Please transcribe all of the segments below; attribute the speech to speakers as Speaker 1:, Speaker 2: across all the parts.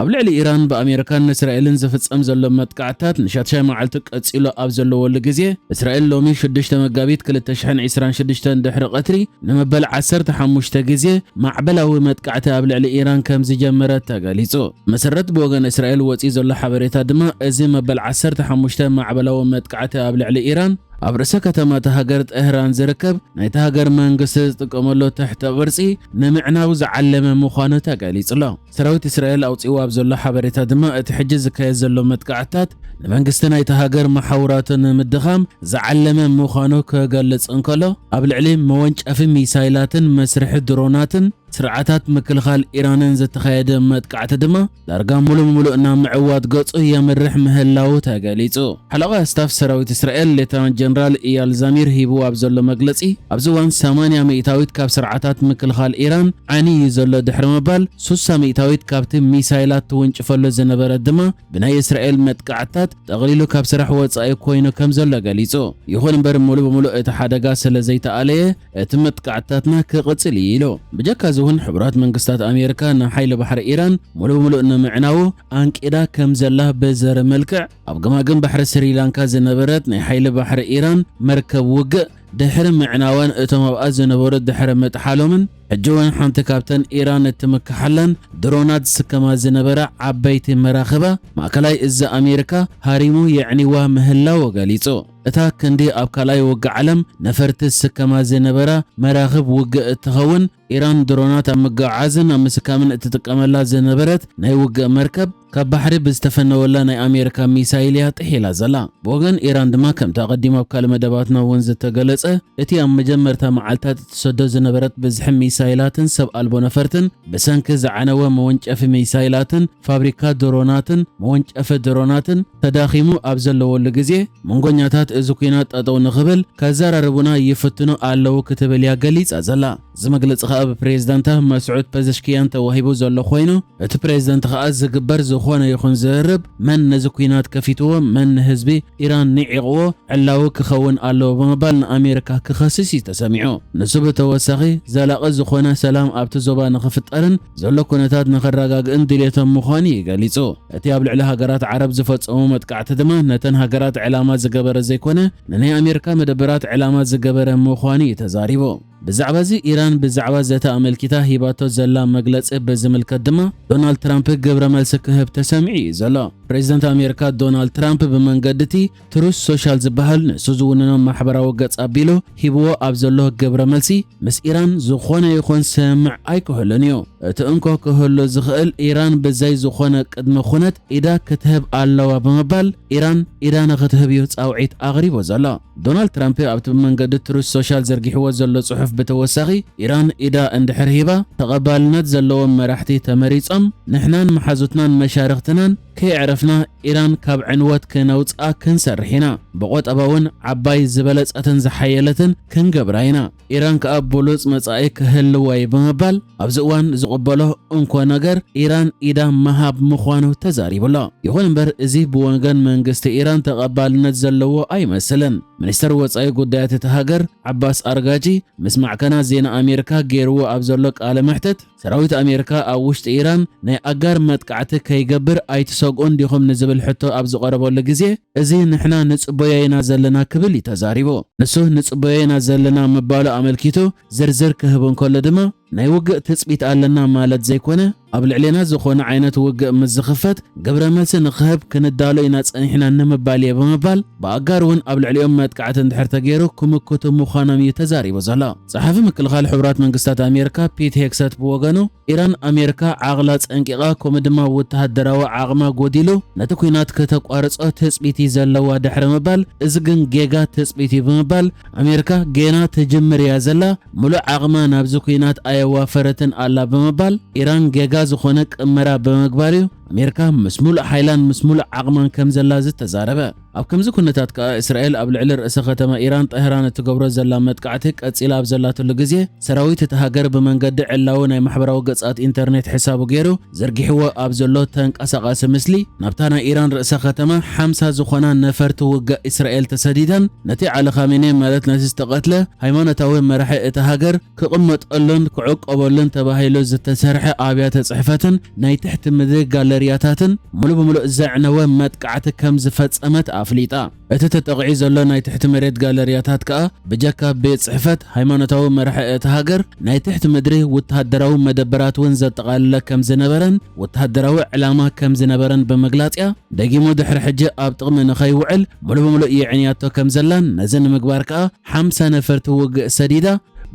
Speaker 1: ኣብ ልዕሊ ኢራን ብኣሜሪካን እስራኤልን ዝፍጸም ዘሎ መጥቃዕትታት ንሻትሻይ መዓልቱ ቀጺሉ ኣብ ዘለወሉ ግዜ እስራኤል ሎሚ 6 መጋቢት 2026 ድሕሪ ቀትሪ ንመበል 15 ግዜ ማዕበላዊ መጥቃዕቲ ኣብ ልዕሊ ኢራን ከም ዝጀመረት ተገሊጹ። መሰረት ብወገን እስራኤል ወጺኡ ዘሎ ሓበሬታ ድማ እዚ መበል ዓሰርተ ሓሙሽተ ማዕበላዊ መጥቃዕቲ ኣብ ልዕሊ ኢራን ኣብ ርእሰ ከተማ እታ ሃገር ጠህራን ዝርከብ ናይታ ሃገር መንግስቲ ዝጥቀመሉ ትሕተ ቅርጺ ንምዕናው ዝዓለመ ምዃኑ ተገሊጹ'ሎ። ሰራዊት እስራኤል ኣውጺእዎ ኣብ ዘሎ ሓበሬታ ድማ እቲ ሕጂ ዝካየድ ዘሎ መጥቃዕትታት ንመንግስቲ ናይታ ሃገር መሓውራቱ ንምድኻም ዝዓለመ ምዃኑ ክገልጽ እንከሎ ኣብ ልዕሊ መወንጨፊ ሚሳይላትን መስርሒ ድሮናትን ስርዓታት ምክልኻል ኢራንን ዝተኻየደ መጥቃዕቲ ድማ ዳርጋ ሙሉእ ሙሉእ ናብ ምዕዋት ገፁ የምርሕ ምህላዉ ተገሊፁ። ሓለቓ ስታፍ ሰራዊት እስራኤል ሌተናንት ጀነራል ኢያል ዛሚር ሂብዎ ኣብ ዘሎ መግለፂ ኣብዚ እዋን ሰማንያ ሚእታዊት ካብ ስርዓታት ምክልኻል ኢራን ዓንዩ ዩ ዘሎ ድሕሪ ምባል ሱሳ ሚእታዊት ካብቲ ሚሳይላት ትውንጭፈሉ ዝነበረት ድማ ብናይ እስራኤል መጥቃዕትታት ጠቕሊሉ ካብ ስራሕ ወፃኢ ኮይኑ ከም ዘሎ ገሊፁ። ይኹን እምበር ሙሉእ ብሙሉእ እቲ ሓደጋ ስለ ዘይተኣለየ እቲ መጥቃዕትታትና ክቕጽል እዩ ኢሉ። ብጀካ እዚ እውን ሕቡራት መንግስታት ኣሜሪካ ንሓይሊ ባሕሪ ኢራን ሙሉእ ብሙሉእ ንምዕናዉ ኣንቂዳ ከም ዘላ ብዘርኢ መልክዕ ኣብ ገማግም ባሕሪ ስሪላንካ ዝነበረት ናይ ሓይሊ ባሕሪ ኢራን መርከብ ውግእ ድሕሪ ምዕናዋን እቶም ኣብኣ ዝነበሩ ድሕሪ ምጥሓሎምን ሕጂ እውን ሓንቲ ካብተን ኢራን እትምክሓለን ድሮናት ዝስከማ ዝነበራ ዓበይቲ መራኽባ ማእከላይ እዚ ኣሜሪካ ሃሪሙ የዕኒዋ ምህላዉ ገሊጹ። እታ ክንዲ ኣብ ካልኣይ ውግእ ዓለም ነፈርቲ ዝስከማ ዝነበራ መራኽብ ውግእ እትኸውን፣ ኢራን ድሮናት ኣብ ምግዕዓዝን ኣብ ምስካምን እትጥቀመላ ዝነበረት ናይ ውግእ መርከብ፣ ካብ ባሕሪ ብዝተፈነወላ ናይ ኣሜሪካ ሚሳይል እያ ጥሒላ ዘላ። ብወገን ኢራን ድማ ከምቲ ኣቐዲሙ ኣብ ካልእ መደባትና እውን ዝተገለጸ፣ እቲ ኣብ መጀመርታ መዓልታት እትሰዶ ዝነበረት ብዝሒ ሚሳይላትን ሰብ ኣልቦ ነፈርትን፣ ብሰንኪ ዝዓነወ መወንጨፊ ሚሳይላትን፣ ፋብሪካ ድሮናትን መወንጨፊ ድሮናትን ተዳኺሙ ኣብ ዘለወሉ ግዜ፣ መንጎኛታት እዚ ኲናት ጠጠው ንኽብል ከዘራርቡና ይፍትኑ ኣለው ክትብል እያ ገሊጻ ዘላ። እዚ መግለጺ ከኣ ብፕሬዝዳንታ መስዑድ ፐዘሽክያን ተዋሂቡ ዘሎ ኮይኑ፣ እቲ ፕሬዝደንት ከኣ ዝግበር ዝኾነ ይኹን ዝርርብ መን ነዚ ኲናት ከፊትዎ መን ንህዝቢ ኢራን ንዒቕዎ ዕላዊ ክኸውን ኣለዎ ብምባል ንኣሜሪካ ክኸስስ እዩ ተሰሚዑ። ንሱ ብተወሳኺ ዘላቒ ዝኾነ ሰላም ኣብቲ ዞባ ንኽፍጠርን፣ ዘሎ ኩነታት ንኸራጋግእን ድልየቶም ምዃኑ እዩ ገሊጹ። እቲ ኣብ ልዕሊ ሃገራት ዓረብ ዝፈጸሞ መጥቃዕቲ ድማ ነተን ሃገራት ዕላማ ዝገበረ ዘይኮነ ንናይ ኣሜርካ መደበራት ዕላማ ዝገበረ ምዃኑ እዩ ተዛሪቡ። ብዛዕባ እዚ ኢራን ብዛዕባ ዘተ ኣመልኪታ ሂባቶ ዘላ መግለጺ ብዝምልከት ድማ ዶናልድ ትራምፕ ግብረ መልሲ ክህብ ተሰሚዑ እዩ ዘሎ። ፕሬዝደንት ኣሜርካ ዶናልድ ትራምፕ ብመንገዲ'ቲ ትሩዝ ሶሻል ዝበሃል ንሱ ዝውንኖ ማሕበራዊ ገጽ ኣቢሉ ሂብዎ ኣብ ዘሎ ግብረ መልሲ፣ ምስ ኢራን ዝኾነ ይኹን ስምምዕ ኣይክህሉን እዩ። እቲ እንኮ ክህሉ ዝኽእል ኢራን ብዘይ ዝኾነ ቅድመ ኩነት ኢዳ ክትህብ ኣለዋ ብምባል ኢራን ኢዳ ንኽትህብ እዩ ጻውዒት ኣቕሪቡ ዘሎ። ዶናልድ ትራምፕ ኣብቲ ብመንገዲ ትሩዝ ሶሻል ዘርጊሕዎ ዘሎ ጽሑፍ ብተወሳኺ ኢራን ኢዳ እንድሕር ሂባ ተቐባልነት ዘለዎም መራሕቲ ተመሪጾም ንሕናን መሓዙትናን መሻርኽትናን ከየዕረፍና ኢራን ካብ ዕንወት ከነውጽኣ ክንሰርሕ ኢና። ብቆጠባ'ውን ዓባይ፣ ዝበለጸትን ዝሓየለትን ክንገብራ ኢና። ኢራን ከኣ ብሉጽ መጻኢ ክህልዋ'ዩ ብምባል ኣብዚ እዋን ዝቕበሎ እንኮ ነገር ኢራን ኢዳ ምሃብ ምዃኑ ተዛሪቡ'ሎ። ይኹን እምበር እዚ ብወገን መንግስቲ ኢራን ተቐባልነት ዘለዎ ኣይመስልን። ሚኒስተር ወጻኢ ጉዳያት እታ ሃገር ዓባስ ኣርጋጂ ምስ ማዕከናት ዜና ኣሜሪካ ገይርዎ ኣብ ዘሎ ቃለ መሕትት፣ ሰራዊት ኣሜሪካ ኣብ ውሽጢ ኢራን ናይ ኣጋር መጥቃዕቲ ከይገብር ኣይትሰግኡን ዲኹም ንዝብል ሕቶ ኣብ ዝቐረበሉ ግዜ እዚ ንሕና ንጽበዮ ኢና ዘለና ክብል እዩ ተዛሪቡ። ንሱ ንጽበዮ ኢና ዘለና ምባሉ ኣመልኪቱ ዝርዝር ክህብ እንከሎ ድማ ናይ ውግእ ትጽቢት ኣለና ማለት ዘይኮነ ኣብ ልዕሌና ዝኾነ ዓይነት ውግእ ምስ ዝኽፈት ግብረ መልሲ ንኽህብ ክንዳሎ ኢና ጸኒሕና ንምባል እየ ብምባል ብኣጋር እውን ኣብ ልዕሊኦም መጥቃዕቲ እንድሕር ተገይሩ ክምክቱ ምዃኖም እዩ ተዛሪቡ ዘሎ። ጸሓፊ ምክልኻል ሕቡራት መንግስታት ኣሜርካ ፒት ሄግሰት ብወገኑ፣ ኢራን ኣሜርካ ዓቕላ ጸንቂቓ ከምኡ ድማ ውተሃደራዊ ዓቕማ ጎዲሉ ነቲ ኲናት ከተቋርጾ ትጽቢት'ዩ ዘለዋ ድሕሪ ምባል፣ እዚ ግን ጌጋ ትጽቢት'ዩ ብምባል፣ ኣሜርካ ጌና ትጅምር እያ ዘላ፣ ምሉእ ዓቕማ ናብዚ ኲናት ኣየዋፈረትን ኣላ ብምባል፣ ኢራን ጌጋ ዝኾነ ቅመራ ብምግባር'ዩ ኣሜርካ ምስ ምሉእ ሓይላን ምስ ምሉእ ዓቕማን ከምዘላ ዝተዛረበ። ኣብ ከምዚ ኩነታት ከኣ እስራኤል ኣብ ልዕሊ ርእሰ ከተማ ኢራን ጠህራን እትገብሮ ዘላ መጥቃዕቲ ቀጺላ ኣብ ዘላትሉ ግዜ ሰራዊት እታ ሃገር ብመንገዲ ዕላዊ ናይ ማሕበራዊ ገጻት ኢንተርኔት ሕሳቡ ገይሩ ዘርጊሕዎ ኣብ ዘሎ ተንቀሳቓሲ ምስሊ ናብታ ናይ ኢራን ርእሰ ከተማ ሓምሳ ዝኾና ነፈርቲ ውግእ እስራኤል ተሰዲደን ነቲ ዓሊ ኻሜኔ ማለት ነቲ ዝተቐትለ ሃይማኖታዊ መራሒ እታ ሃገር ክቕመጠሉን ክዕቆበሉን ተባሂሉ ዝተሰርሐ ኣብያተ ጽሕፈትን ናይ ትሕቲ ምድሪ ጋለርያታትን ምሉእ ብምሉእ ዘዕነወ መጥቃዕቲ ከም ዝፈጸመት ኣፍሊጣ። እቲ ተጠቕዒ ዘሎ ናይ ትሕቲ መሬት ጋለርያታት ከኣ ብጀካ ቤት ጽሕፈት ሃይማኖታዊ መራሒ እታ ሃገር ናይ ትሕቲ ምድሪ ውተሃደራዊ መደበራት እውን ዘጠቓለለ ከም ዝነበረን ወተሃደራዊ ዕላማ ከም ዝነበረን ብምግላጽ'ያ ደጊሙ ድሕሪ ሕጂ ኣብ ጥቕሚ ንኸይውዕል ምሉእ ብምሉእ የዕንያቶ ከም ዘላን ነዚ ንምግባር ከኣ ሓምሳ ነፈርቲ ውግእ ሰዲዳ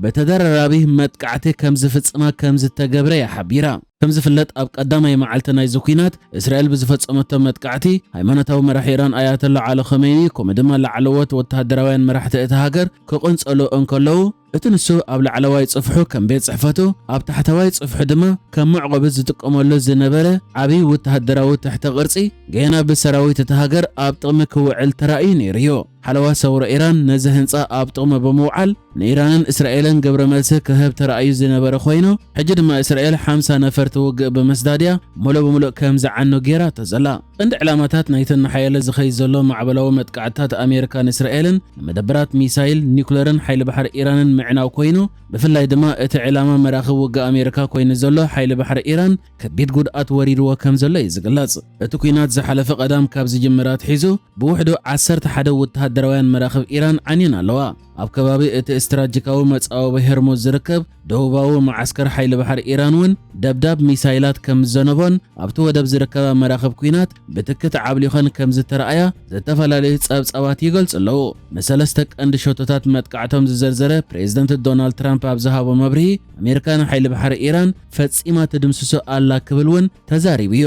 Speaker 1: ብተደራራቢ መጥቃዕቲ ከም ዝፍጽማ ከም ዝተገብረ እያ ሓቢራ። ከም ዝፍለጥ ኣብ ቀዳማይ መዓልቲ ናይዚ ኲናት እስራኤል ብዝፈጸመቶ መጥቃዕቲ ሃይማኖታዊ መራሒ ኢራን ኣያቶላ ዓሊ ኸመይኒ ከምኡ ድማ ላዕለዎት ወተሃደራውያን መራሕቲ እታ ሃገር ክቕንጸሉ እንከለዉ እቲ ንሱ ኣብ ላዕለዋይ ጽፍሑ ከም ቤት ጽሕፈቱ ኣብ ታሕተዋይ ጽፍሑ ድማ ከም መዕቆቢ ዝጥቀመሉ ዝነበረ ዓብዪ ወተሃደራዊ ትሕተ ቅርጺ ገና ብሰራዊት እታ ሃገር ኣብ ጥቕሚ ክውዕል ተራእዩ ነይሩ እዩ። ሓለዋ ሰውራ ኢራን ነዚ ህንጻ ኣብ ጥቕሚ ብምውዓል ንኢራንን እስራኤልን ግብረ መልሲ ክህብ ተራእዩ ዝነበረ ኮይኑ፣ ሕጂ ድማ እስራኤል ሓምሳ ነፈርቲ ውግእ ብምስዳድ እያ ምሉእ ብምሉእ ከም ዝዓኑ ገይራቶ ዘላ። ቀንዲ ዕላማታት ናይቲ እናሓየለ ዝኸይድ ዘሎ ማዕበላዊ መጥቃዕትታት ኣሜሪካን እስራኤልን ንመደበራት ሚሳይል፣ ኒኩለርን ሓይሊ ባሕሪ ኢራንን ምዕናው ኮይኑ፣ ብፍላይ ድማ እቲ ዕላማ መራኽብ ውግእ ኣሜሪካ ኮይኑ ዘሎ ሓይሊ ባሕሪ ኢራን ከቢድ ጉድኣት ወሪድዎ ከም ዘሎ እዩ ዝግለጽ። እቲ ኲናት ዝሓለፈ ቀዳም ካብ ዝጅምር ኣትሒዙ፣ ብውሕዱ ዓሰርተ ሓደ ወተሃደራውያን መራኽብ ኢራን ዓንየን ኣለዋ። ኣብ ከባቢ እቲ ስትራጂካዊ መጻወቢ ሄርሙዝ ዝርከብ ደቡባዊ መዓስከር ሓይሊ ባሕሪ ኢራን እውን ደብዳብ ሚሳይላት ከም ዝዘነቦን ኣብቲ ወደብ ዝርከባ መራኽብ ኲናት ብትክት ዓብሊኾን ከም ዝተረኣያ ዝተፈላለዩ ጸብጻባት ይገልጹ ኣለዉ። ንሰለስተ ቀንዲ ሸቶታት መጥቃዕቶም ዝዘርዘረ ፕሬዝደንት ዶናልድ ትራምፕ ኣብ ዝሃቦ መብርሂ ኣሜሪካ ንሓይሊ ባሕሪ ኢራን ፈጺማ ትድምስሶ ኣላ ክብል እውን ተዛሪቡ እዩ።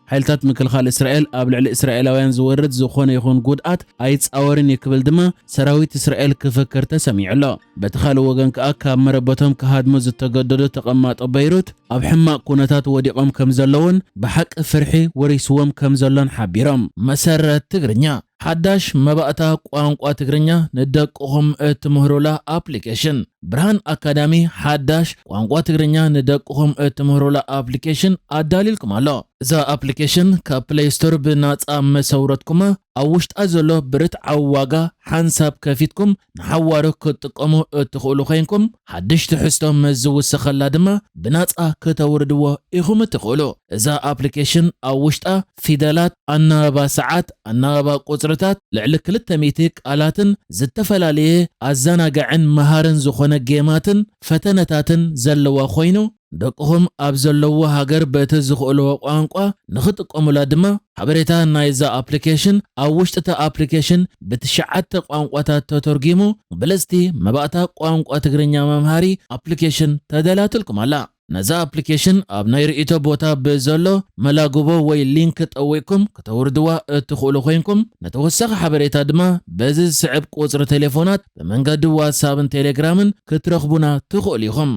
Speaker 1: ሓይልታት ምክልኻል እስራኤል ኣብ ልዕሊ እስራኤላውያን ዝወርድ ዝኾነ ይኹን ጉድኣት ኣይጻወርን እዩ ክብል ድማ ሰራዊት እስራኤል ክፍክር ተሰሚዑ ኣሎ። በቲ ካልእ ወገን ከኣ ካብ መረበቶም ክሃድሙ ዝተገደዱ ተቐማጦ በይሩት ኣብ ሕማቕ ኩነታት ወዲቖም ከምዘለውን ብሓቂ ፍርሒ ወሪስዎም ከምዘሎን ሓቢሮም። መሰረት ትግርኛ ሓዳሽ መባእታ ቋንቋ ትግርኛ ንደቅኹም እትምህሩላ ኣፕሊኬሽን። ብርሃን ኣካዳሚ ሓዳሽ ቋንቋ ትግርኛ ንደቅኹም እትምህሩላ ኣፕሊኬሽን ኣዳልዩልኩም ኣሎ። እዛ ኣፕሊኬሽን ካብ ፕለይ ስቶር ብናጻ ምስ ኣውረድኩማ፣ ኣብ ውሽጣ ዘሎ ብርትዓዊ ዋጋ ሓንሳብ ከፊትኩም ንሓዋሩ ክትጥቀሙ እትኽእሉ ኮይንኩም፣ ሓድሽ ትሕዝቶ ምስ ዝውሰኸላ ድማ ብናጻ ክተውርድዎ ኢኹም እትኽእሉ። እዛ ኣፕሊኬሽን ኣብ ውሽጣ ፊደላት፣ ኣናባባ ሰዓት፣ ኣናባባ ቁጽርታት፣ ልዕሊ ክልተ ሚእቲ ቃላትን ዝተፈላለየ ኣዘናጋዕን መሃርን ዝኾነ ጌማትን ፈተነታትን ዘለዋ ኮይኑ ደቅኹም ኣብ ዘለዉዎ ሃገር በቲ ዝኽእልዎ ቋንቋ ንኽጥቀሙላ ድማ ሓበሬታ ናይዛ ኣፕሊኬሽን ኣብ ውሽጢ'ታ ኣፕሊኬሽን ብትሽዓተ ቋንቋታት ተተርጒሙ ብልጽቲ መባእታ ቋንቋ ትግርኛ መምሃሪ ኣፕሊኬሽን ተዳልያትልኩም ኣላ። ነዛ ኣፕሊኬሽን ኣብ ናይ ርእይቶ ቦታ ብዘሎ መላግቦ ወይ ሊንክ ጠዊቕኩም ክተውርድዋ እትኽእሉ ኮይንኩም፣ ንተወሳኺ ሓበሬታ ድማ በዚ ዝስዕብ ቁጽሪ ቴሌፎናት ብመንገዲ ዋትስኣብን ቴሌግራምን ክትረኽቡና ትኽእሉ ኢኹም።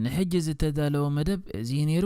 Speaker 1: ንሕጂ ዝተዳለወ መደብ እዚ እዩ ነይሩ።